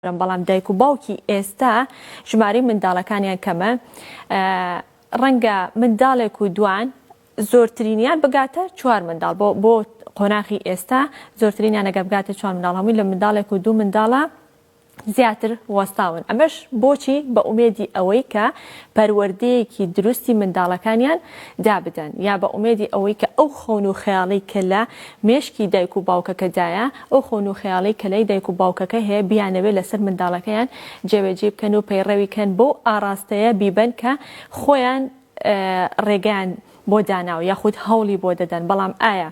بەڵام دایک و باوکی ئێستا ژمارەی منداڵەکانیان کەمە ڕەنگە منداڵێک و دوان زۆرترینیان بگاتە چوار منداڵ بۆ بۆ قۆناخی ئێستا زۆرترینیان نەگە بگاتە چوار منداڵ هەمووی لە منداڵێک و دوو منداڵە زیاتر وەستاون ئەمەش بۆچی بە ئومێدی ئەوەی کە پەروەردەیەکی دروستی منداڵەکانیان دابدەن یا بە ئومێدی ئەوەی کە ئەو خەون و خەیاڵی کە لە مێشکی دایک و باوکەکەدایە ئەو خەون و خەیاڵەی کە لای دایک و باوکەکە هەیە بیانەوێت لەسەر منداڵەکەیان جێبەجێی بکەن و پەیڕەوی کەن بەو ئاڕاستەیە بیبەن کە خۆیان ڕێگەیان بۆ داناوە یاخود هەوڵی بۆ دەدەن بەڵام ئایا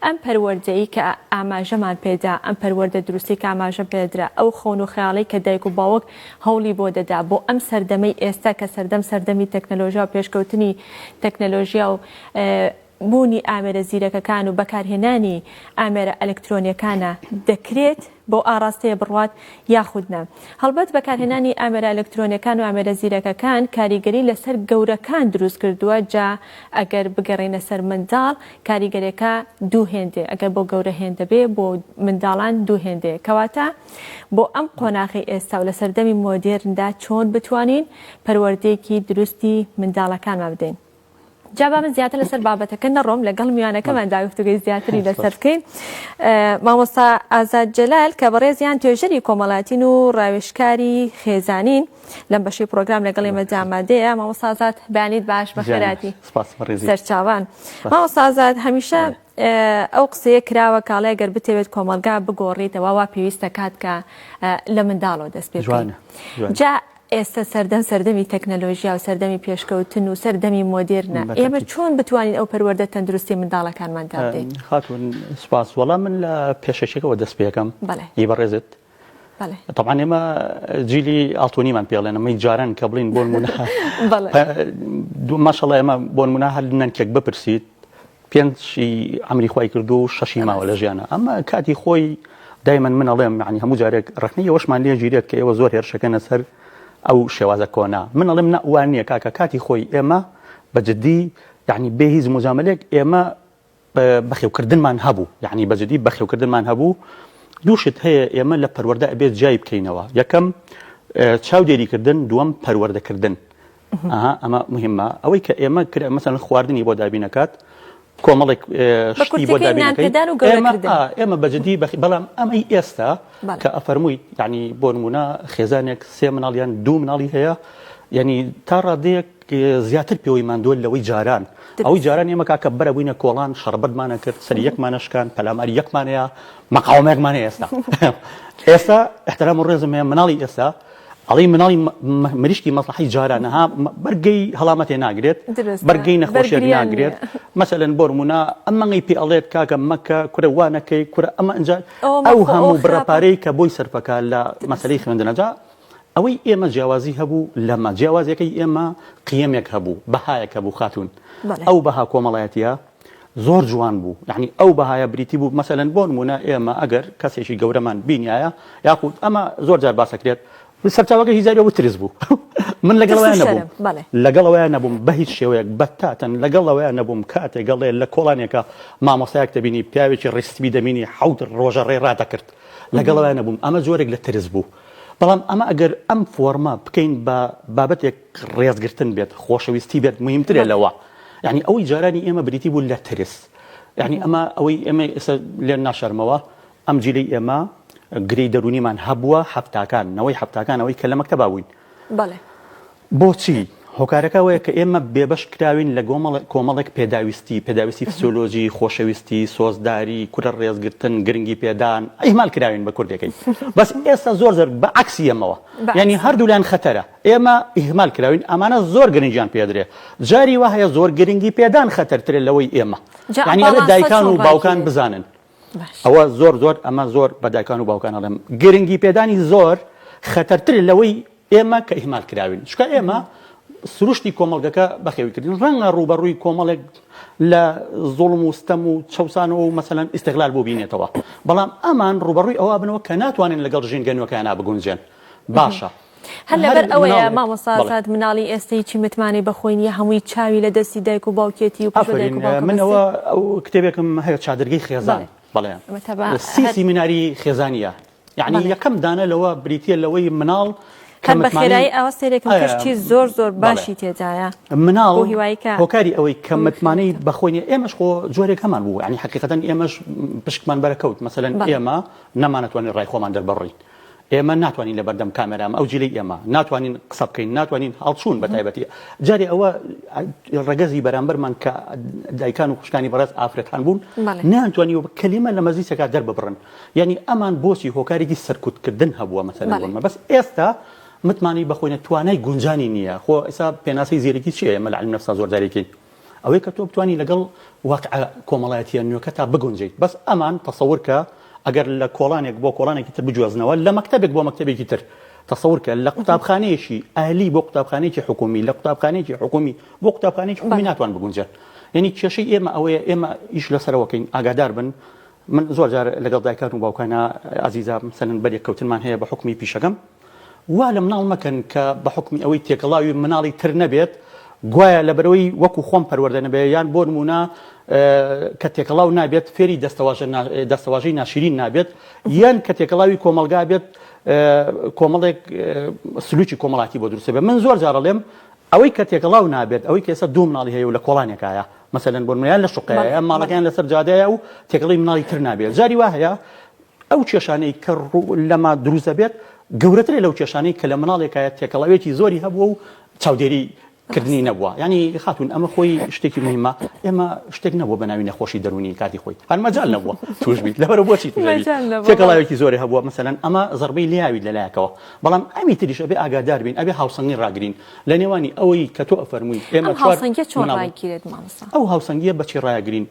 ئەم پەروەردەی کە ئاماژەمان پێدا ئەم پەروەردە دروستی کە ئاماژە پێدرا ئەو خەون و خەیاڵی کە دایک و باوک هەوڵی بۆ دەدا بۆ ئەم سەردەمەی ئێستا کە سەردەم سەردەمی تەکنەلۆژیا و پێشکەوتنی تەکنەلۆژیا و بوونی ئامێرە زیرەکەکان و بەکارهێنانی ئامێرە ئەلکترۆنیەکانە دەکرێت بەو ئاڕاستەیە بڕوات یاخود نا. هەڵبەت بەکارهێنانی ئامێرە ئەلکترۆنیەکان و ئامێرە زیرەکەکان کاریگەری لەسەر گەورەکان دروست کردووە جا ئەگەر بگەرێینە سەر منداڵ کاریگەرێکە دوو هێندەیە ئەگەر بۆ گەورە هێندە بێ بۆ منداڵان دوو هێندەیە کەواتە بۆ ئەم قۆناغی ئێستا و لە سەردەمی مۆدێرندا چۆن بتوانین پەروەردەیەکی دروستی منداڵەکانمان بدەین. جا با من زیاتر لەسەر بابەتەکە نەڕۆم لەگەڵ میوانەکەمان دا گفتوگەی زیاتری لەسەر بکەین مامۆستا ئازاد جەلال کە بەڕێزیان توێژەری کۆمەڵاتین و ڕاوێشکاری خێزانین لەم بەشی پرۆگرام لەگەڵ ئێمە جامادەیە مامۆستا ئازاد بەیانیت باش بەخێراتی سەرچاوان مامۆستا ئازاد هەمیشە ئەو قسەیە کراوە کاڵای گەر بتەوێت کۆمەلگا بگۆڕیتەوە وا پێویستە کات کە لە منداڵەوە دەست پێ جا ئێستە سەردەم سەردەمی تەکنەلۆژیا و سەردەمی پێشکەوتن و سەردەمی مۆدێرنە، ئێمە چۆن بتوانین ئەو پەروەردە تەندروستەی منداڵەکانمان دا بدەین؟ خاتوون سوپاس، وەڵا من لە پێشەکیەکەوە دەست پێکەم، ئی بەڕێزت، تەبعەن ئێمە جیلی ئاڵتوونیمان پێ ئەڵێن، ئەمەی جاران کە بڵێین بۆ نموونە، ماشەڵا ئێمە بۆ نموونە هەر نەنکێک بپرسیت، پێنج ی عەمری خوای کردووە و شەشی ماوە لە ژیانە ئەمە کاتی خۆی دایمەن من ئەڵێم معنی هەموو جارێک ڕخنی ئەوەشمان لێ گیرێت کە ئێوە زۆر هێرشەکەنە سەر ئەو شێوازە کۆنا من ئەڵێم نەوان نییە کاکە کاتی خۆی ئێمە بە جددی یعنی بێ هیچ مجاملێک ئێمە بەخێوکردنمان هەبوو یعنی بە جددی بەخێوکردنمان هەبوو دووشت هەیە ئێمە لە پەروەەردە ئەبێت جای بکەینەوە یەکەم چاودێریکردن دووەم پەروەردەکردن ئەها ئەمە مهمە ئەوەی کە ئێمە کرا مەسەن خواردنی بۆ دابینەکات کۆمەڵێک شتی بۆ ئێمە بەجددی بەخی بەڵام ئەمەی ئێستا کە ئەفەرمووی ینی بۆ نمونە خێزانێک سێ مناڵیان دوو مناڵی هەیە ینی تا ڕادەیەک زیاتر پێوەی مادۆل لەوەی جاران ئەوەی جاران ئێمە کاکە بەرە بووینە کۆڵان شەربەتمانە کرد سەر یەکمانەشکان پەلامار یەکمانەیە مەقاومێکمانە ئێستا ئێستا احترام و ڕێزم هەیە مناڵی ئێستا ئەڵێی مناڵی مریشکی مەسڵەحەی جارانە ها بەرگەی هەڵامەتێ ناگرێت بەرگەی نەخۆشێک ناگرێت مەسەلەن بۆرمونە ئەمەنگەی پێ ئەڵێت کاکە مەکە کورە وانەکەی کورە ئەمە ئەجا ئەو هەموو بڕەپارەی کە بۆی سەرفەکە لە مەسلەی خوێندنەجا ئەوەی ئێمە جیاوازی هەبوو لەمە جیاوازەکەی ئێمە قیەمێک هەبوو بەهایەک هەبوو خاتون ئەو بەها کۆمەڵایەتە زۆر جوان بوو یعنی ئەو بەهایە بریتی بوو مەسەلەن بۆ نمونە ئێمە ئەگەر کەسێکی گەورەمان بینایە یاخود ئەمە زۆر جار باسەکرێت سەرچاوەکە هیزاری ئەوە ترس بوو من لەگەڵیان نەبووم لەگەڵەوەیان نەبووم بە هیچ شێوەیەک بەتاتەن لەگەڵەوەیان نەبووم کاتێک گەڵێ لە کۆڵانێکە مامۆستایەک دەبینی پیاوێکی ڕیستبی دەمینی حەوت ڕۆژە ڕێ ڕادەکرد لەگەڵەوەیان نەبووم ئەمە جۆرێک لە ترس بوو بەڵام ئەمە ئەگەر ئەم فۆرمە بکەین بە بابەتێک ڕێز گرتن بێت خۆشەویستی بێت موهیمترە لەوە یعنی ئەوەی جارانی ئێمە بریتی بوو لە ترس یعنی ئەمە ئەوەی ئێمە ئێستا لێن ناشەرمەوە ئەم جیلی ئێمە گرێی دەرونیمان هەبووە حەفتاکان نەوەی حەفتاکان ئەوەی کە لە مەکتەبا بووین بەڵێ بۆچی هۆکارەکە وەیە کە ئێمە بێبەش کراوین لە گۆمەڵ کۆمەڵێک پێداویستی پێداویستی فسیۆلۆژی خۆشەویستی سۆزداری کورە ڕێزگرتن گرنگی پێدان ئیهمال کراوین بە کوردەکەی بەس ئێستا زۆر زۆر بە عەکسی ئەمەوە یعنی هەردوولایان خەتەرە ئێمە ئیهمال کراوین ئەمانە زۆر گرنگیان پێ درێ جاری وا هەیە زۆر گرنگی پێدان خەتەرترە لەوەی ئێمە یعنی ئەبێ دایکان و باوکان بزانن ئەوە زۆر زۆر ئەمە زۆر بە دایکان و باوکان ئەڵێم گرنگی پێدانی زۆر خەتەرتر لەوەی ئێمە کە ئیهمال کراوین چکە ئێمە سروشتی کۆمەڵگەکە بەخێویکردن ڕەنگە ڕوبەڕووی کۆمەڵێک لە زۆڵم و ستەم و چەسانەوە و مەسەەن ئیسغلال بۆ بینێتەوە بەڵام ئەمان ڕوبەڕووی ئەوە بنەوە کە ناتوانن لەگەڵ ژینگە نوەکەیانە بگونجێن باشە هەر لەبەر ئەوەیە مامۆستا ئازاد مناڵی ئێستا هیچی متمانەی بە خۆی نییە هەمووی چاوی لە دەستی دایک و باوکێتی و پشت بە دایک و باوکە من ئەوە ئەو کتێبێکم هەیە چادرگەی خێزان بەڵێ ئەمە تەبا سی سیمیناری خێزانییە یعنی یەکەم دانە لەوە بریتییە لەوەی مناڵ کە هەر بە متمانەی خێرایی ئەوە سێرێکم ئایا. کەشتی زۆر زۆر بەڵێ. باشی تێدایە مناڵ بۆ هیوای کە هۆکاری ئەوەی کە خۆی متمانەی خێرتە. بە خۆی نییە ئێمەش خۆ جۆرێک هەمان بوو یعنی حەقیقەتەن ئێمەش پشکمان بەرەکەوت مەسەلەن بەڵێ ئێمە نەمانەتوانی ڕای خۆمان دەربڕین ئێمە ناتوانین لە بەردەم کامێرا ئەم ئەو جیلەی ئێمە ناتوانین قسە بکەین ناتوانین هەڵچوون بە تایبەتی جارێ ئەوە ڕەگەزی بەرامبەرمان کە دایکان و خوشکانی بەڕێز ئافرەتان بوون بەڵێ. نانتوانی و کەلیمە لە مەزیسەکە دەرببڕن یعنی ئەمان بۆچی هۆکارێکی سەرکوتکردن هەبووە مەسەلەن بەڵێ. بۆنمە بەس ئێستا متمانەی بەخۆینە توانای گونجانی نییە خۆ ئێستا پێناسەی زیرەکی چیە ئێمە لە علم نفسا زۆر جارێکین ئەوەی کە تۆ بتوانی لەگەڵ واقع کۆمەڵایەتیە نوێکەتا بگونجێیت بەس ئەمان تەسەورکە ئەگەر لە کۆڵانێک بۆ کۆڵانێکی تر بگوێزنەوە لە مەکتەبێک بۆ مەکتەبێکی تر تەسەورکە لە قوتابخانەیەکی ئەهلی بۆ قوتابخانێکی حکومی لە قوتابخانێکی حکومی بۆ قوتابخانێکی حکومی ناتوان بگونجێت یعنی کێشەی ئێمە ئەوەیە ئێمە ئیش لەسەرەوەکەین ئاگادار بن من زۆر جار لەگەڵ دایکان و باوکانە ئازیزا سەنن بەرێک کەوتنمان هەیە بە حکومی پیشەکەم وا لە مناڵ مەکەن کە بە حوکمی ئەوەی تێکەڵاوی مناڵی تر نەبێت گوایە لەبەرەوەی وەکو خۆم پەروەردە نەبێت یان بۆ نموونە کە تێکەڵاو نابێت فێری دەستەواژە دەستەواژەی ناشرین نابێت یان کە تێکەڵاوی کۆمەلگا بێت کۆمەڵێک سلوکی کۆمەڵاتی بۆ دروستە بێت من زۆر جارەڵێم ئەوەی کە تێکەڵاو نابێت ئەوەی کە ئێستا دوو مناڵی هەیە و لە کۆڵانێکایە مەسەن بۆ منیان لە شقەیە ماڵەکەیان لەسەر جادەیە و تێکەڵی مناڵی تر نابێت جاری وا هەیە ئەو کێشانەی کە ڕوو لەما دروست دەبێت گەورەترە لەو کێشانەی کە لە مناڵێکایە تێکەڵاوێکی زۆری هەبووە و چاودێری کردنی نەبووە ینی خاتون ئەمە خۆی شتێکی مهمە ئێمە شتێک نەبوو بە ناوی نەخۆشی دەرونی کاتی خۆی هەرمەجال نەبووە توشبیت لەبەر بۆچی تێکەڵاوێکی زۆری هەبووە مەسەن ئەمە زربەی لیاوی لەلایەکەوە بەڵام ئەمی تریش ئەبێ ئاگادار بین ئەبێ هاوسەنگی ڕاگرین لە نێوانی ئەوەی کە تۆ ئەفەرمووی ئێمە ئەو هاوسەنگیە بەچی ڕایگرین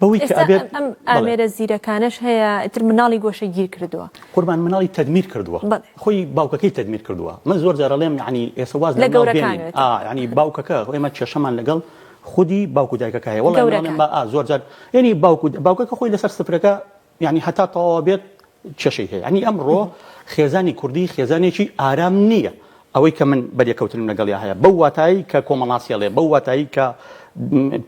بەوەی کە ئەبێت ئێستا ئەم ئامێرە زیرەکانەش هەیە ئیتر مناڵی گۆشەگیر کردووە. قوربان مناڵی تەدمیر کردووە بەڵێ. خۆی باوکەکەی تەدمیر کردووە من زۆر جار ئەڵێم یەعنی ئێستا واز لە مناڵ بێنین لە گەورەکانێتە. یەعنی باوکەکە ئێمە کێشەمان لەگەڵ خودی باوک و دایکەکە هەیە وەڵا من ئەڵێم گەورەکان. ئا زۆر جار یەعنی باوک و باوکەکە خۆی لەسەر سفرەکە یانی هەتا تەواو بێت کێشەی هەیە یانی ئەمڕۆ خێزانی کوردی خێزانێکی ئارام نییە ئەوەی کە من بەرێکەوتنم لەگەڵیا هەیە بەو واتایی کە کۆمەڵاسیڵێ بەو واتایی کە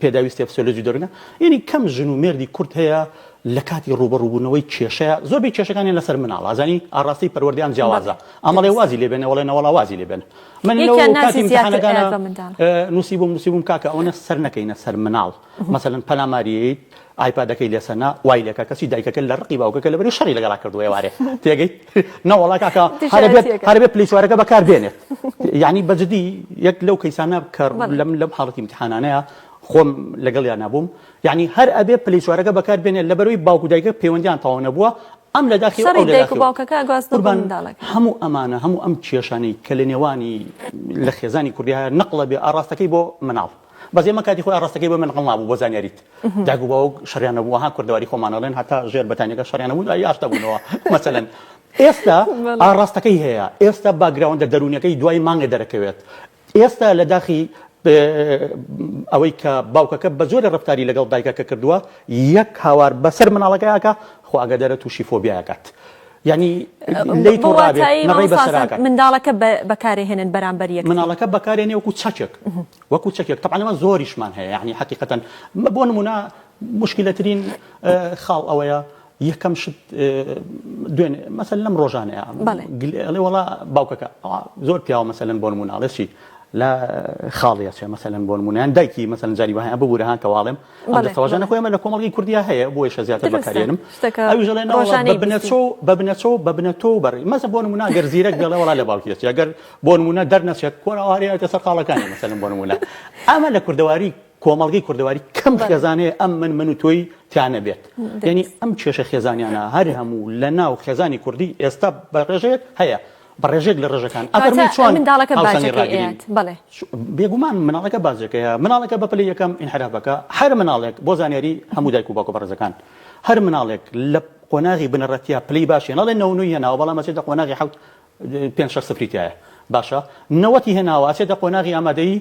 پێداویستێ فسیۆلۆجی دەرونە یعنی کەم ژن و مێردی کورت هەیە لە کاتی ڕوبەڕوبوونەوەی کێشەیە زۆربەی کێشەکانی لەسەر مناڵ ئازانی ئاڕاستی پەروەردەیان جیاوازە ئەمەڵێ وازی لێبێنە وڵێ نەوەڵا وازی لێبێن من نووسی بووم نووسی بووم کاکە ئەوەنە سەر نەکەینە سەر مناڵ مەسەن پەلاماریت ئایپادەکەی لێ سەنا وای لێ کە کەچی دایکەکە لە ڕقی باوکەکە لەبەری شەڕی لەگەڵا کردووە ئێوارێ تێگەیت نەوەڵا کاکە هەرە بێت هەرە بێت پلەی چوارەکە بەکار بێنێت یانی بە جدی یەک لەو کەیسانە کە لەم لەم حاڵەتی امتحانانەیە خۆم لەگەڵیان نەبووم یانی هەر ئەبێ پلەی چوارەکە بەکار بێنێت لەبەروی باوک و دایکە پەیوەندیان تەواو نەبووە ئەم لە داخی شەڕی دایک و باوکەکە گواز نەبوو منداڵەکە هەموو ئەمانە هەموو ئەم کێشانەی کە لە نێوانی لە خێزانی کوردی هەیە نەقڵە بێ ئاڕاستەکەی بۆ مناڵ بەس ئێمە کاتی خۆی ئاڕاستەکەی بۆ من ڕەنگ مابوو بۆ زانیاریت دایک و باوک شەڕیان نەبوو وەها کوردەواری خۆمان ئەڵێن هەتا ژێر بەتانیەکە شەڕیان نەبوو ئەی ئاشتا بوونەوە مەسەلەن ئێستا ئاڕاستەکەی هەیە ئێستا باگراوندە دەروونیەکەی دوای مانگێ دەرەکەوێت ئێستا لە داخی ئەوەی کە باوکەکە بە زۆرە ڕفتاری لەگەڵ دایکەکە کردووە یەک هاوار بەسەر مناڵەکەیاکە خۆ ئەگەدەرە تووشی فۆبیاکات یانی لەی تۆ ڕابێ نەڕەی بەسەراکە. منداڵەکە بەکارێ هێنن بەرامبەر یەکتری. منداڵەکە بەکارێنێ وەکو چەکێک وەکو چەکێک تەبعەن ئەمە زۆریشمان هەیە یانی حەقیقەتەن بۆ نموونە موشکیلەترین خاڵ ئەوەیە یەکەم شت دوێن مەسەل لەم ڕۆژانەیە ئەڵێ وڵا باوکەکە زۆر پیاوە مەسەلەن بۆ نمووناڵێسی لە خاڵیە چێ مەسەلەن بۆ نموونیان دایکی مەسەن جاری وایە ببوورە هاکەواڵێم دەستەواژانە خۆی ئەمە لە کۆمەڵگەی کوردیا هەیە بۆی شە زیاتر بەکارێنم ئەوی ژەڵێن بنەچۆ بە بنەچۆ بە بنەتۆ و بەڕی مەزە بۆ نمونا گەر زیرەک دەڵێ وڵا لە باوکیێت گەر بۆ نمونە دەرنەچێت کۆنەوارەیەتە سەر خاڵەکانی مەسەلم بۆ نمونە ئەمە لە کوردەواری کۆمەڵگەی کوردەواری کەم خێزانەیە ئەم من من و تۆی تیانە بێت یعنی ئەم کێشە خێزانیانە هەر هەموو لە ناو خێزانی کوردی ئێستا بەڕێژەیەک هەیە بە ڕێژێک لە ڕێژەکان ئەفەرمووی چۆن منداڵەکە باجەکەی ئەیات بەڵێ بێگومان مناڵەکە باجەکەی ئەیات مناڵەکە بە پلەی یەکەم ئینحراف بکا هەر مناڵێک بۆ زانیاری هەموو دایک و باوکە بەڕێزەکان هەر مناڵێک لە قۆناغی بنەڕەتیە پلەی باشی نەڵێ نەوە و نۆی هێناوە بەڵام ئەچێتە قۆناغی حەوت پێنج شەش سفری تایە باشە نەوەتی هێناوە ئەچێتە قۆناغی ئامادەیی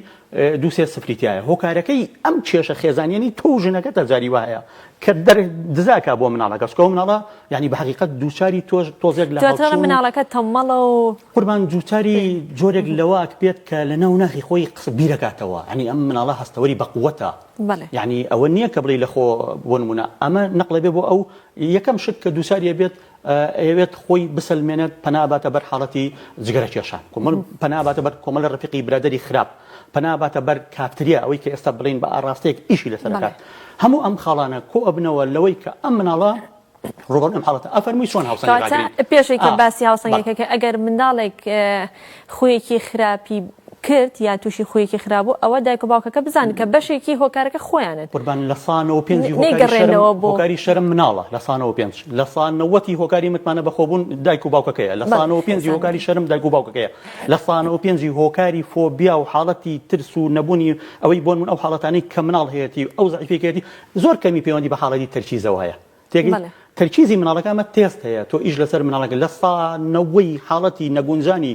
دوو سێ سفری تیایە هۆکارەکەی ئەم کێشە خێزانیەنەی تۆو ژنەکەتە جاری وایە کە دزاکە بۆ مناڵەکە چکۆ مناڵە یعنی بە حقیقت دووچاری تۆش تۆزێک لە مناڵەکە تەمەڵە و قوربان دووچاری جۆرێک لەواک بێت کە لە ناو ناخی خۆی قسە بیرەکاتەوە ئەنی ئەم مناڵە هەستەوەری بەقوتە یعنی ئەوە نییە کە بڵی لەخۆ بۆ نمونە ئەمە نەقلێ بێ بۆ ئەو یەکەم شت کە دووساریە بێت ئەیەوێت خۆی بسەلمێنێت پەنا ئەباتە بەر حاڵەتی جگەرە کێشان کۆمەڵ پەنا ئەباتە بەر کۆمەڵە ڕەفیقی برادەری خراپ پەنا ئەباتە بەر کافتریا ئەوەی کە ئێستا بڵێن بە ئاڕاستەیەک ئیشی لەسەر بەڵێ ئەکات هەموو ئەم خاڵانە کۆ ئەبنەوە لەوەی کە ئەم مناڵە ڕووبەڕووی ئەم حاڵەتە ئەفەرمووی چۆن هاوسەنگی کەواتە ڕاگرین پێشێکە ئا باسی بەڵێ هاوسەنگەکە کە ئەگەر منداڵێک اه، خویەکی خراپی کرد یان توشی خویەکی خراپ بوو ئەوە دایک و باوکەکە بزانن کە بەشێکی هۆکارەکە خۆیانن. قوربان لە سا نەوە پێنجی هۆکاری شەرم هۆکاری شەرم مناڵە لە سا نەوە پێنج لە سا نەوەتی هۆکاری متمانە بە خۆبوون دایک و باوکەکەیە لە سا نەوە پێنجی هۆکاری شەرم دایک و باوکەکەیە لە سا نەوە پێنجی هۆکاری فۆبیا و حاڵەتی ترس و نەبوونی ئەوەی بۆنموون ئەو حاڵەتانەی کە مناڵ هەیەتی ئەو زەعیفەی کە هەیەتی زۆر کەمی پەیوەندی بە حاڵەتی تەرکیزەوە هەیە تێگەی؟ بەڵێ. تەرکیزی مناڵەکە ئەمە تێست هەیە تۆ ئیش لەسەر مناڵەکە لە سا نەوەی حاڵەتی نەگونجانی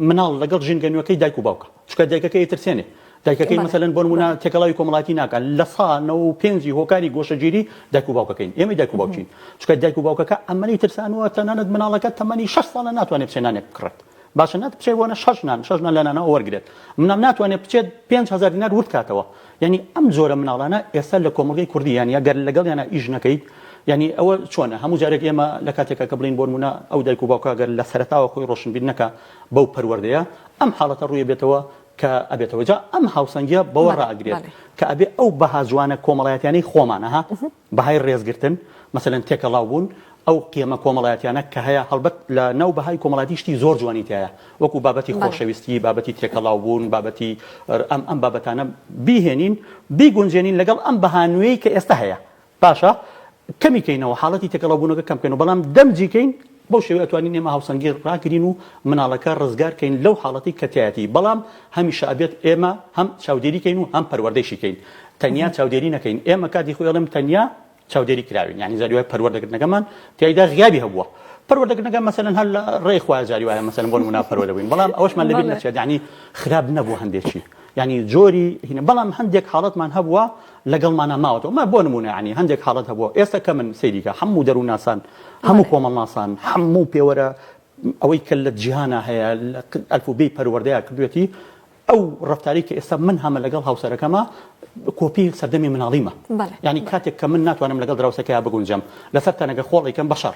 مناڵ لەگەڵ ژینگە نوێکەی دایک و باوکە چکە دایکەکەی ترسێنێ دایکەکەی مەسەن بۆ نمونە تێکەڵاوی کۆمەڵاتی ناکات لە سا نەوە و پێنجی هۆکاری گۆشەگیری دایک و باوکەکەین ئێمە دایک و باوکین چکە دایک و باوکەکە ئەمەی ترسانوە تەنانەت مناڵەکە تەمەنی شەش ساڵە ناتوانێت پسێنانێک بکڕێت باشە نەت بچێ بۆنە شەش نان شەش نان لە نانەوە وەرگرێت منام ناتوانێت بچێت پێنج هەزار دینار ورد کاتەوە یعنی ئەم جۆرە مناڵانە ئێستا لە کۆمەڵگەی کوردی یان یا گەر لەگەڵ یانە ئیش نەکەیت یعنی ئەوە چۆنە هەموو جارێک ئێمە لە کاتێکە کە بڵین بۆنمونە ئەو دایک و باوکە گەر لە سەرتاوە خۆی ڕۆشنبیر نەکە بەو پەروەردەیە ئەم حاڵەتە ڕووی بێتەوە کە ئەبێتەوە جا ئەم هاوسەنگیە بەوە ڕاگرێت کە ئەبێ ئەو بەها جوانە کۆمەڵایەتیانەی خۆمانەها بەهای ڕێزگرتن، مەسەلەن تێکەڵاو بوون، ئەو قیمە کۆمەڵایەتیانە کە هەیە، هەڵبەت لە ناو بەهای کۆمەڵایەتی شتی زۆر جوانی تیایە، وەکو بابەتی بەڵێ. خۆشەویستی، بابەتی تێکەڵاو بوون، بابەتی ر ئەم ئەم بابەتانە بیهێنین، بیگونجێنین لەگەڵ ئەم بەها نوێی کە ئێستا هەیە، باشە کەمی کەینەوە، حاڵەتی تێکەڵاو بوونەکە کەم کەینەوە، بەڵام دەمجی کەین بەو شێوەیە ئەتوانین ئێمە هاوسەنگی ڕاگرین و مناڵەکە ڕزگار کەین لەو حاڵەتەی کە تیایەتی بەڵام هەمیشە ئەبێت ئێمە هەم چاودێری کەین و هەم پەروەردەیشی کەین تەنیا چاودێری نەکەین ئێمە کاتی خۆی ئەڵێم تەنیا چاودێری کراوین یعنی جاری وایە پەروەردەکردنەکەمان تیایدا غیابی هەبووە پەروەردەکردنەکە مەسەلەن هەر لە ڕێی خوا جاری وایە مەسەلەن بۆ نمونا پەروەردە بووین بەڵام ئەوەشمان لەبیر بەڵێ نەچێت یعنی خراپ نەبوو هەندێکی یعنی جۆری هینە بەڵام هەندێک حاڵەتمان هەبووە لەگەڵمانا ماوەتەوە مە بۆ نمونە یانی هەندێک حاڵەت هەبووە ئێستا کەمن سەیری کە هەموو دەروونناسان هەموو کۆمەڵناسان هەموو پێوەرە ئەوەی کە لە جیهانا هەیە لە ئەلفوبێی پەروەردەیە کردوێتی ئەو ڕفتاری کە ئێستا من هەمە لەگەڵ هاوسەرەکەمە کۆپی سەردەمی مناڵیمە بەڵێ یانی بەڵێ کاتێک کە من ناتوانم لەگەڵ دراوسێکەیا بگونجم لەسەر تەنەکە خۆڵێکم بەشەڕ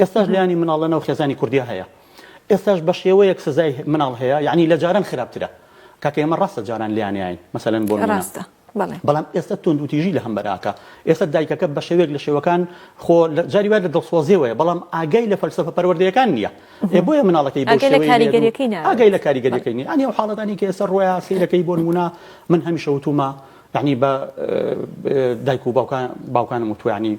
ئێستاش لانی مناڵ لەناو خێزانی کوردیا هەیە ئێستاش بەشێوەیەک سزای مناڵ هەیە یەعنی لەجاران خراپترە کاکە ئێمە ڕاستە جاران لانیاین مەسەلەن بۆ نمونە بەڵام ئێستا توندوتیژی لەهەمبەر ئاکا ئێستا دایکەکە بەشێوەیەک لە شێوەکان خۆ جاری وای لە دڵسۆزیەوەیە بەڵام ئاگای لە فەلسەفە پەروەردەیەکان نییە ئێ بۆیە مناڵەکەی بۆ شێوەی کاریگەریەکەی ناوێت ئاگای لە کاریگەریەکەی نییە یانی ئەو حاڵەتانی کە ئێستا ڕۆیا سەیرەکەی بۆ نمونە من هەمیشە وتومە یەعنی بە دایک و باوکان باوکانم وتوانی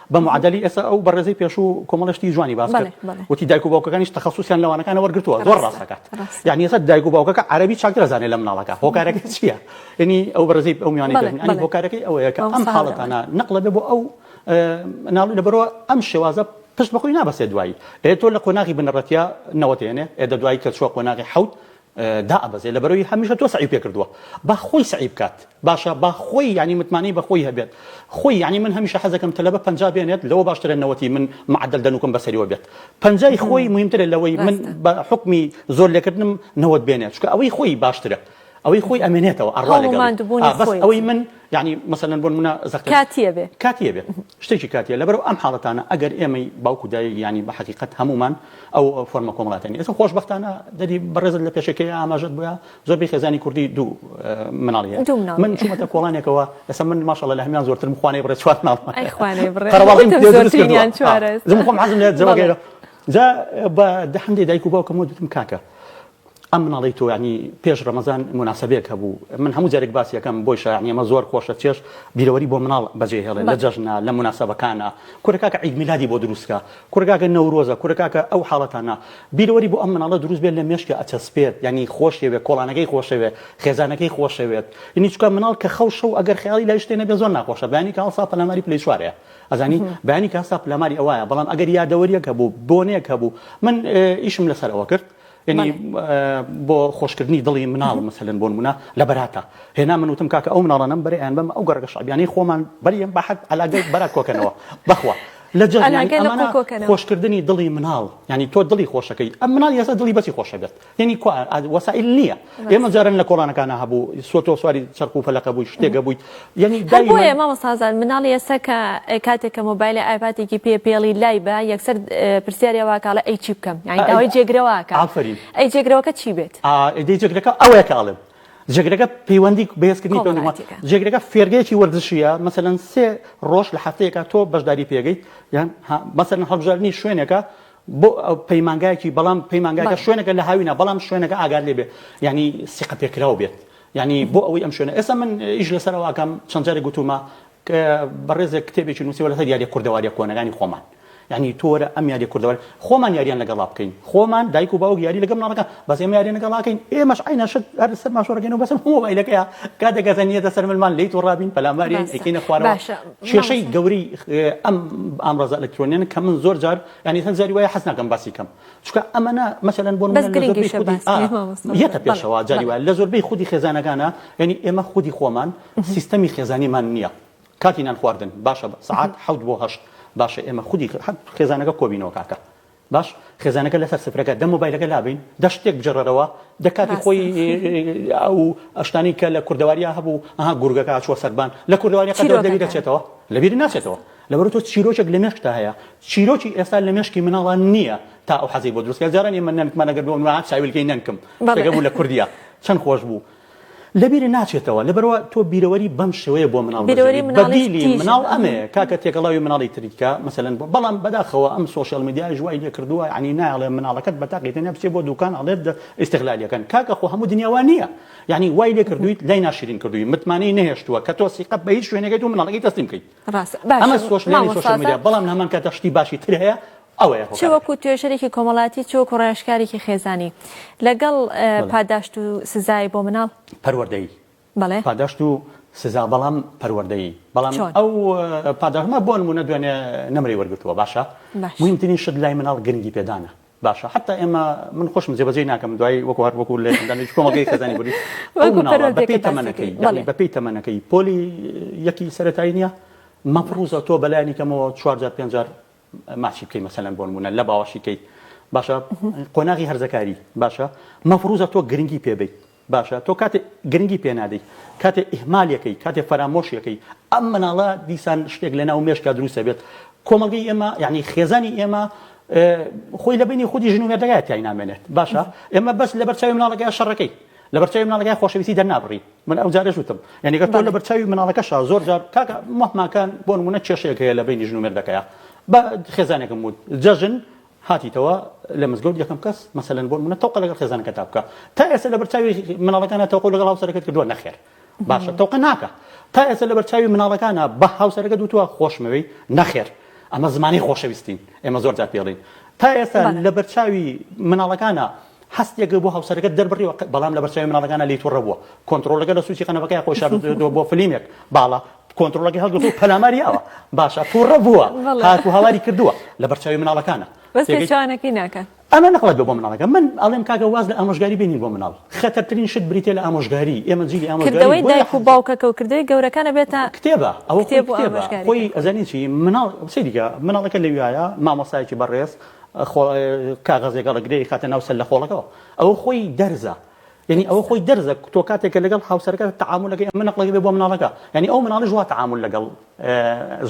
بە معەدەلی ئێستا ئەو بەڕێزەی پێشوو کۆمەڵێ شتی جوانی باس کرد بەڵێ بەڵێ وتی دایک و باوکەکانیش تەخەسوسیان لە وانەکانە وەرگرتووە زۆر ڕاستە ڕاستە کات ڕاستە یانی ئێستا دایک و باوکەکە عەرەبی چاکتر ئەزانێ لە مناڵەکە هۆکارەکەی چییە یانی ئەو بەڕێزەی ئەو میوانەی بەڵێ پێشوو یانی بەڵێ هۆکارەکەی ئەوەیە کە ئەم مامۆستا هەڵە بەڕێز حاڵەتانە نەقڵ ئەبێ بۆ ئەو ئە، مناڵی لەبەرئەوە ئەم شێوازە پشت بە خۆی نابەستێ دوایی ئێ تۆ لە قۆناغی بنەڕەتییە نەوەت هێنێ ئێ دە دوایی کە چووە قۆناغی حەوت دائەبەزێت لەبەرەوەی هەمیشە تۆ سەعی پێ کردووە با خۆی سەعی بکات باشە با خۆی یانی متمانەی بە خۆی هەبێت خۆی یانی من هەمیشە حەز دەکەم تەلەبە پەنجا بێنێت لەوە باشترە نەوەتی من معەدەل دەنوکم بەسەریەوە بێت پەنجای خۆی موهیمترە لەوەی من ڕاستە بە حوکمی زۆر لێکردنم نەوەت بێنێت چونکە ئەوەی خۆی باشترە ئەوەی خۆی ئەمێنێتەوە ئەڕوا هەوڵ و لەگەڵی ماندوبونی ئا بەس خۆی ئەوەی من یانی مەسەلەن بۆ نمونە زەختە کاتی ئەبێ کاتی ئەبێت. شتێکی کاتییە، لەبەرو ئەم حاڵەتانە ئەگەر ئێمەی باوک و دایک یانی بە حەقیقەت هەموومان ئەو فۆرمە کۆمەڵاتیانە ئێستا خۆشبەختانە دەدی بەڕێزت لە پێشەکیی ئاماژەت بووە زۆربەی خێزانی کوردی دوو مناڵ هەیە دوو مناڵ من چوومەتە کۆڵانێکەوە ئێستا من ماشاءاللە لە هەموان زۆرترم خوانەی بڕێ چوار مناڵ ئەی خوانەی بڕێ قەرەباڵغیم پێ دروست کردووە زۆرترینیان چوارە ئێستا زۆر خۆم حەزم لێت جەوەکەی جا بە دە هەندێ دایک و باوکم وتم کاکە ئەم مناڵەی تۆ یانی پێش ڕەمەزان موناسەبەیەک هەبوو من هەموو جارێک باسی ئەکەم بۆی شایانی ئەمە زۆر خۆشە چێژ بیرەوەری بۆ مناڵ بەجێ هێڵێ لە جەژنە لە موناسەبەکانە کورە کاکە عید میلادی بۆ دروست کە کورە کاکە نەورۆزە کورە کاکە ئەو حاڵەتانە بیرەوەری بۆ ئەم مناڵە دروست بێت لە مێشکە ئەچەسپێت یانی خۆشەوێت کۆڵانەکەی خۆشەوێت خێزانەکەی خۆشەوێت یانی چونکە مناڵ کە خەو شەو ئەگەر خەیاڵی لای شتێ نەبێت زۆر ناخۆشە بەیانی کە هەڵسا پەلاماری پلەی چوارەیە ئەزانی بەیانی کە هەستا پەلاماری ئەوایە بەڵام ئەگەر یادەوەریەک هەبوو بۆنەیەک هەبوو من ئیشم لەسەر ئەوە کرد یەنی بۆ خۆشکردنی دڵی مناڵ مەسەلەن بۆ نموونە لە بەراتا هێنام من وتم کاکە ئەو مناڵانەم بەرێ ئەیان بەم ئەو گەڕەکە شەعبیانەی خۆمان بەریێم بە حەد عەلاگەی بەرات کۆ کەنەوە بەخوا لە جەژن یانی عەلاگەی لە ئەمانە کۆ کەنەوە. خۆشکردنی دڵی مناڵ یانی تۆ دڵی خۆشەکەی ئەم مناڵ یەسە دڵی بەسی خۆشەبێت یەنی کوا ئاد وەسائیل نییە ئێمە جاران لە کۆڵانەکانا هەبوو سۆتۆ سواری چەرخ و فەلەقە بووی شتێکە بوویت یعنی هەر دایمە بۆیە مامۆستازان مناڵی ئێستا کە ئە، کاتێک کە مۆبایلە ئایپاتێکی پێ پێڵی لای بە یەکسەر ئە، پرسیاری ئەوە کاڵێ ئەی چی بکەم یانی داوای جێگرەوە ئەکا ئافەرین ئەی جێگرەوەکە چی بێت؟ ئا، ئیدی جێگرەکە ئەوەیە کە ئەڵێم جێگرەکە پەیوەندی بەهێزکردنی پەیوەندی وڵاتێکە. وڵات جێگرەکە فێرگەیەکی وەرزشییە مەسەلەن سێ ڕۆژ لە هەفتەیەکا تۆ بەشداری پێگەیت یان ها مەسەلەن هەڵبژاردنی شوێنێکە بۆ پەیمانگایەکی بەڵام پەیمانگاکە بەڵێ. شوێنەکە لە هاوینە بەڵام شوێنەکە ئاگات لێ بێ یانی سیقە پێکراو بێت یانی بۆ ئەوەی ئەم شوێنە ئێستا من ئیش لەسەر ئەوە ئەکەم چەند جارێک گوتوومە ک بەڕێزێک کتێبێکی نووسیوە لەسەر یاریە کوردەواریە کۆنەکانی خۆمان یانی تۆ وەرە ئەم یاریە کوردەوار خۆمان یاریان لەگەڵا بکەین خۆمان دایک و باوک یاری لەگەڵ منداڵەکان بەس ئێمە یاریە نەگەڵا کەین ئێمەش عینە شت هەر سەر ماشۆ ڕگەنەوە بەسم مۆبایلەکەیە کاتێک گەزەنیەتە سەر ملمان لیت و ڕابین پەلاماری ئەکەینە خوارەوە کێشەی گەوری ئەم ئامڕازە ئەلکترۆنیان کە من زۆر جار ینی هەند زاری وایە حەز ناکەم باسی کەم چکە ئەمەە مەسەن بۆ یەتە پێشەوە جاری وایە لە زۆربەی خودی خێزانەکانە ینی ئێمە خودی خۆمان سیستەمی خێزانیمان نییە کاتی نان خواردن باشە سعات حوت بۆ هەشت باشە ئێمە خودی خێزانەکە کۆبینەوە کاکە باش خێزانەکە لەسەر سفرەکە دە مۆبایلەکە لابەین دە شتێک بجڕەرەوە دە کاتی خۆی ئەو ئەشتانی کە لە کوردەواریا هەبوو ئەها گورگەکە هاچووە سەربان لە کوردەواری قەتەوە لەوی دەچێتەوە لەبیری ناچێتەوە لەبەر تۆ چیرۆکێک لە مێشکتا هەیە چیرۆکی ئێستا لە مێشکی مناڵان نییە تا ئەو حەزی بۆ دروستکە جاران ئێمە نەنکمانەگەر بۆ منوان چاویلکەی نەنکم شتەکە بوو لە کوردیا چەند خۆش بوو لەبیرت ناچێتەوە لەبەروا تۆ بیرەوەری بەم شێوەیە بۆ مناڵ بەجێ بەدیلی مناڵ ئەمێ کاکە تێکەڵاوی مناڵی تریت کە مەسەلەن بۆ بەڵام بەداخەوە ئەم سۆشیال میدیایش وای لێ کردووە یەعنی نایەڵێ مناڵەکەت بە تاقی تەنیا بچێ بۆ دوکان ئەڵێ بدە ئیستغلالیەکەن کاکە خۆ هەموو دنیا وا نییە یەعنی وای لێ کردوویت لای ناشرین کردووی متمانەی نەهێشتووە کە تۆ سیقە بە هیچ شوێنێکەی تۆ مناڵەکەی تەسلیم کەیت ڕاستە باشە ئەمە سۆشیال مامۆستا میدیا بەڵام لە هەمان کاتدا شتی باشی تر هەیە ئەوەیە چ هۆکارەکە. وەکو توێژەرێکی کۆمەڵایەتی چ وەکو ڕاوێژکارێکی خێزانی لەگەڵ بەڵێ. پاداشت و سزای بۆ مناڵ. پەروەردەیی بەڵێ. پاداشت و سزا بەڵام پەروەردەیی بەڵام چۆن؟ ئەو پاداشت مە بۆ نموونە دوێنێ نەمرەی وەرگرتووە باشە باش. موهیمترین شت لای مناڵ گرنگی پێدانە باشە حەتا ئێمە من خۆشم جێ بەجێی ناکەم دوای وەکو هەر وەکو لە ئەندامێکی کۆمەڵگەی خێزانی بوری ئەو وەکو مناڵە بە پێی پەروەردەیەکە باسی تەمەنەکەی کرد یەعنی بەڵێ. بە پێی تەمەنەکەی پۆلی یەکی سەرەتایی نیە مەپڕوزە تۆ بەلایانی کەمەوە چوار جار پێنج جار ماچی بکەی مەسەلەن بۆ نموونە لە باوەشی کەیت باشە قۆناغی هەرزەکاری باشە مەفروزە تۆ گرنگی پێ بیت باشە تۆ کاتێ گرنگی پێ نادەی کاتێ ئیهمالەکەی کاتێ فەرامۆشیەکەی ئەم مناڵە دیسان شتێک لە ناو مێشکا دروستە بێت کۆمەڵگەی ئێمە یعنی خێزانی ئێمە خۆی لە بینی خودی ژن و مێردەگای تای نامێنێت باشە ئێمە بەس لە بەرچاوی مناڵەکەی شەڕەکەی لە بەرچاوی مناڵەکەی خۆشەویستی دەرنابڕی من ئەو جارەش وتم یانی گەر تۆ لەبەر چاوی مناڵەکەشا زۆر جار کاکە مەهمانکان بۆ نمونە کێشەیەک هەیە لە بەینی ژن و مێردەکەیا بە خێزانێکم وت جەژن هاتیتەوە لە مزگەوت یەکەم کەس مەسەلەن بۆ منە تەوقە لەگەڵ خێزانەکە تا بکە تا ئێستا لەبەر چاوی مناڵەکانە تەوقە لەگەڵ هاوسەرەکەت کردووە نەخێر باشە تەوقە ناکە تا ئێستا لەبەر چاوی مناڵەکانە بە هاوسەرەکەت وتووە خۆشمەوەی نەخێر ئەمە زمانی خۆشەویستین ئێمە زۆر جار پێڵین تا ئێستا لە بەرچاوی مناڵەکانە هەستێکت بۆ هاوسەرەکەت دەربڕیوە بەڵام لەبەرچاوی مناڵەکانە لێی توڕە بووە، کۆنتڕۆڵەکە لە سوچی قەنەفەکەیا خۆی شاردووەتەوە بۆ فلیمێک باڵە کۆنتڕۆڵەکەی هەڵگرتووە و پەلاماری یاوە، باشە توڕە بووە هات و هاواری کردووە لەبەرچاوی مناڵەکانە. بەس پێچەوانەکەی ناکات. ئەمە نەقڵە بێ بۆ مناڵەکە من ئەڵێم کاکە واز لە ئامۆژگاری بێنین بۆ مناڵ خەتەرترین شت بریتیە لە ئامۆژگاری ئێمە جیلی ئامۆژگاری کردەوەی دایک و باوکەکە و کردەوەی گەورەکان ئەبێتە کتێبە ئەوە کتێب و ئامۆژگاری خۆی ئەزانین چی مناڵ سەیری کە مناڵەکە لەویایە مامۆستایەکی بەڕێز کاغەزێک ئەڵێ گرێی خاتە ناو سەللەخۆڵەکەوە ئەوە خۆی دەرزە یعنی ئەوە خۆی دەرزە تۆ کاتێک کە لەگەڵ هاوسەرەکەت تەعامولەکەی ئەمە نەقڵێک بێ بۆ مناڵەکە یعنی ئەو مناڵیش وا تەعامول لەگەڵ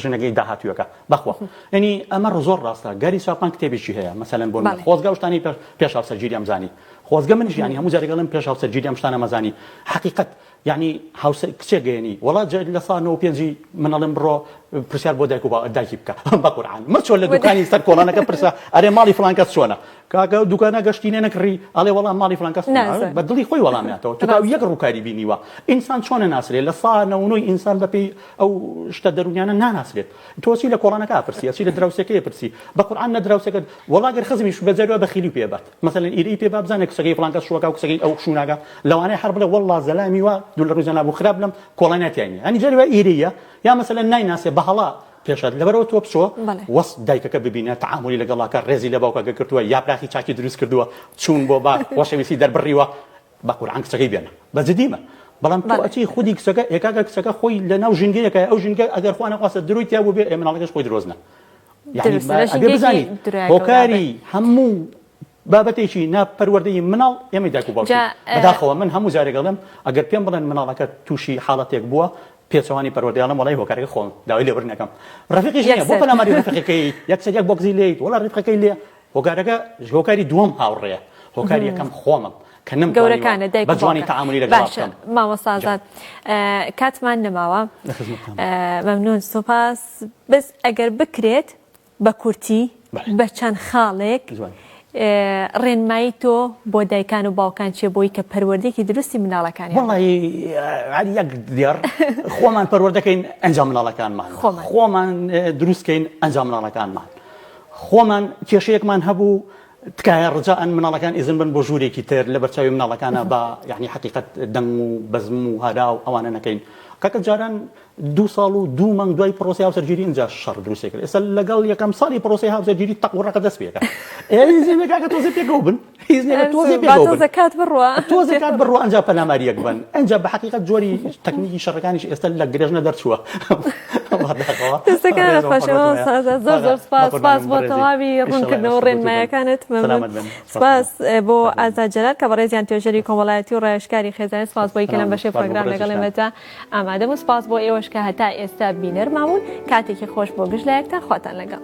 ژنەکەی داهاتوویەکە بەخوا یعنی ئەمە زۆر ڕاستە گاری ساپان کتێبیشی هەیە مەسەلەن بۆ من بەڵێ خۆزگە ئەو شتانەی پێش پێش هاوسەرگیری ئەمزانی خۆزگە منیش یعنی هەموو جارێک ئەڵێم پێش هاوسەرگیری ئەم شتانە مەزانی حەقیقەت یەعنی هاوسەر کچێک گەیەنی. وەڵا جا لە سا نۆ و پێنجی من ئەڵێم بڕۆ پرسیار بۆ دایک و با دایکی بکە بە قورعان مەچۆ لە دوکانی سەر کۆڵانەکە پرسە ئەرێ ماڵی فڵان کەس چۆنە کاکە دوکانە گەشتینە نەکڕی ئەڵێ وەڵا ماڵی فڵان کەس نازە بە دڵی خۆی وەڵام ناتەوە تو تاو یەک ڕوکاری بینیوە ئینسان چۆنە ناسرێ لە سا نۆ و نۆی ئینسان بە پێی ئەو شتە دەرونیانە ناناسرێت تۆ چی لە کۆڵانەکە ئەپرسی ئەچی لە دراوسێکەی ئەپرسی بە قورعان نە دراوسێکەت وەڵا گەر خزمیش بە جەروا بەخیلی پێ بات مەسەلەن ئیرەی پێ با بزانێ کچەکەی فڵان کەس شووەکا و کچەکەی ئەو شوو ناکا لەوانەیە هەر بڵێ وەڵڵا زەلامی وا دوو لە ڕووی جەنابو خراپ لەم کۆڵانە تیای نییە ئەنی جاری وا ئیرەییە یا مەسەلەن نایناسێ بە هەڵە پێش هات لەبەرئەوە تۆ بچۆ بەڵێ. وەس دایکەکە ببینە تەعامولی لەگەڵا کە ڕێزی لە باوکەکە گرتووە یاپراخی چاکی دروست کردووە چوون بۆ باغ خۆشەویستی دەربڕیوە بە قورعان کچەکەی بێنە بە جدیمە بەڵام تۆ بەڵێ. ئەچی خودی کچەکە ئێ کاکە کچەکە خۆی لەناو ژینگەیەکە ئەو ژینگە ئەگەر خوا نەخواستە درۆی تیا بووبێ ئێ مناڵەکەش خۆی درۆزنە هۆکاری هەموو بابەتێکی ناپەروەردەی مناڵ ئێمە داکو باو بەداخەوە من هەموو جارێکڵم ئەگەر پێم بڵێن مناڵەکە تووشی حاڵەتێک بووە پێچوانی پەروەردەیاڵم وڵی هۆکارەکە خۆم داوای لێبرنەکەم ڕفقی بۆ پەلاماری ڕفقەکەی یەکسەر یەک بۆگزی لێیت وڵا ڕفقەکەی لێ هۆکارەکە هۆکاری دووەم هاوڕێیە هۆکاری یەکەم خۆمم کە نەم گەورەکانە دایک بە جوانی تعاملی لەگەڵ بکەم مامۆسازات کاتمان نەماوە مەمنون سوپاس بەس ئەگەر بکرێت بە کورتی بە چەند خاڵێک ڕێنمایی تۆ بۆ دایکان و باوکان چێ بۆی کە پەروەردێکی دروستی مناڵەکانی یەک دیار خۆمان پەروەردەکەین ئەنجام مناڵەکانمان خۆمان دروستکەین ئەنجام مناڵەکانمان خۆمان کێشەیەکمان هەبوو تکایە ڕجائەن مناڵەکان ئیزن بەن بۆ ژوورێکی تر لەبەرچاوی مناڵەکانا با یەعنی حەقیقەت دەنگ و بەزم و هارا و ئەوانە نەکەین کاکە جاران دوو ساڵ و دوو مانگ دوای پڕۆسەی هاوسەرگیری ئینجا شەڕ دروستێکرد ئێستا لەگەڵ یەکەم ساڵی پڕۆسەی هاوسەرگیری تەق و ڕەقە دەست پێکا ئێ ئیزن بە کاکە تۆزێ پێکەوە بن. هیچ نیە تۆزێ باتۆزە کات بڕوە تۆزێ کات بڕوە ئەنج پەلاماری یەک بن ئەنج بە حقیقت جۆری تەکنیکی شەڕەکانیش ئێستا لە گرێژنە دەرچووە سپاس بۆ تەواوی ڕوونکردنەوە ڕێنمایەکانت سپاس بۆ ئازاجلال کە بەڕێزیان توێژەری کۆمەڵایەتی و ڕێشکاری خێزانانی سپاس بۆی کە لەم بەشێ پرۆگرام لەگەڵ ئێمەدا ئامادەم و سپاس بۆ ئێوەش کە هەتا ئێستا بینەر ماون کاتێکی خۆش بۆ گشت لایەکتان خواتان لەگەڵ.